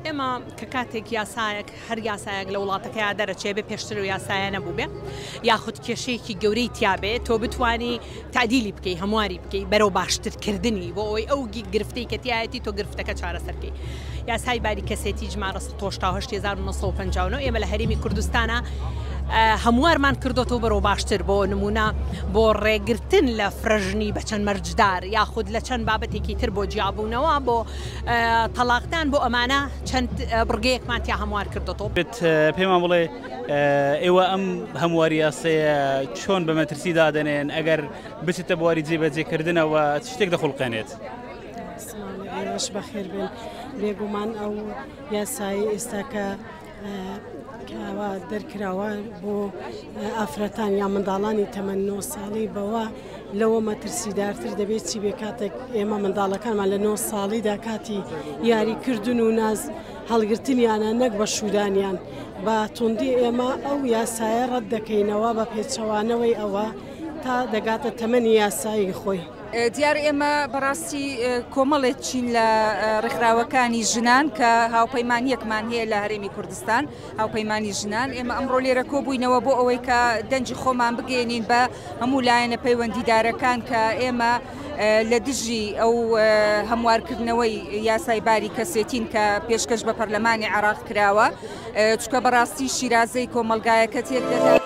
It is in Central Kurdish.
ئێمە کە کاتێک یاسایەک هەر یاسایەک لە وڵاتەکەیا دەرەچێ بێ پێشتر و یاسایە نەبوو بێ یاخود کێشەیەکی گەورەی تیاابێ تۆ بتانی تعدیلی بکەی هەمواری بکەی بەرەو باشترکردنی بۆ ئەوی ئەو گرفتەی کەتیایەتی تۆ گرفتەکە چارەسەرکەی یاسای باری کەسێتی ژمارە 1950 ئێمە لە هەرمی کوردستانە هەموارمان کردوەوە بەرەو باشتر بۆ نمونە بۆ ڕێگرتن لە فرەژنی بە چەند مەرجدار یاخود لە چەند بابەتێکی تر بۆ جیابوونەوە بۆ تەڵاقدان بۆ ئەمانە چەند بڕگەیەکمان تیا هەموار کردۆتەوە. بێت پێمان بڵێ ئێوە ئەم هەمواری یاسەیە چۆن بە مەترسی دادەنێن ئەگەر بچێتە بواری جێبەجێکردنەوە چ شتێک دەخڵقێنێت؟ ئێوەش بەخێر بێن بێگومان ئەو یاسایی ئێستاکە کەوا دەرکراوە بۆ ئافرەتان یا منداڵانی تەمەەن 9 ساڵی بەوە لەوە مەترسیدارتر دەبێت چی بێ کاتێک ئێمە منداڵەکانمان لە 9 ساڵیدا کاتی یاریکردن و ناز هەڵگرتنیانە نەک بە شودانیان بە توندی ئێمە ئەو یاسایە ڕەت دەکەینەوە بە پێچەوانەوەی ئەوە تا دەگاتە تەمەنی یاسایی خۆی. دیار ئێمە بەڕاستی کۆمەڵێک چین لە ڕێکخراوەکانی ژنان کە هاوپەیمانیەکمان هەیە لە هەرێمی کوردستان هاوپەیمانانی ژنان ئێمە ئەمڕۆ لێرە کۆبووینەوە بۆ ئەوەی کە دەنجی خۆمان بگەێنین بە هەموو لایەنە پەیوەندیدارەکان کە ئێمە لە دژی ئەو هەموارکردنەوەی یاسای باری کەسێتین کە پێشکەش بە پەرلەمانی عراق کراوە چکە بەڕاستی شیرازەی کۆمەلگایەکە تێک دەدات.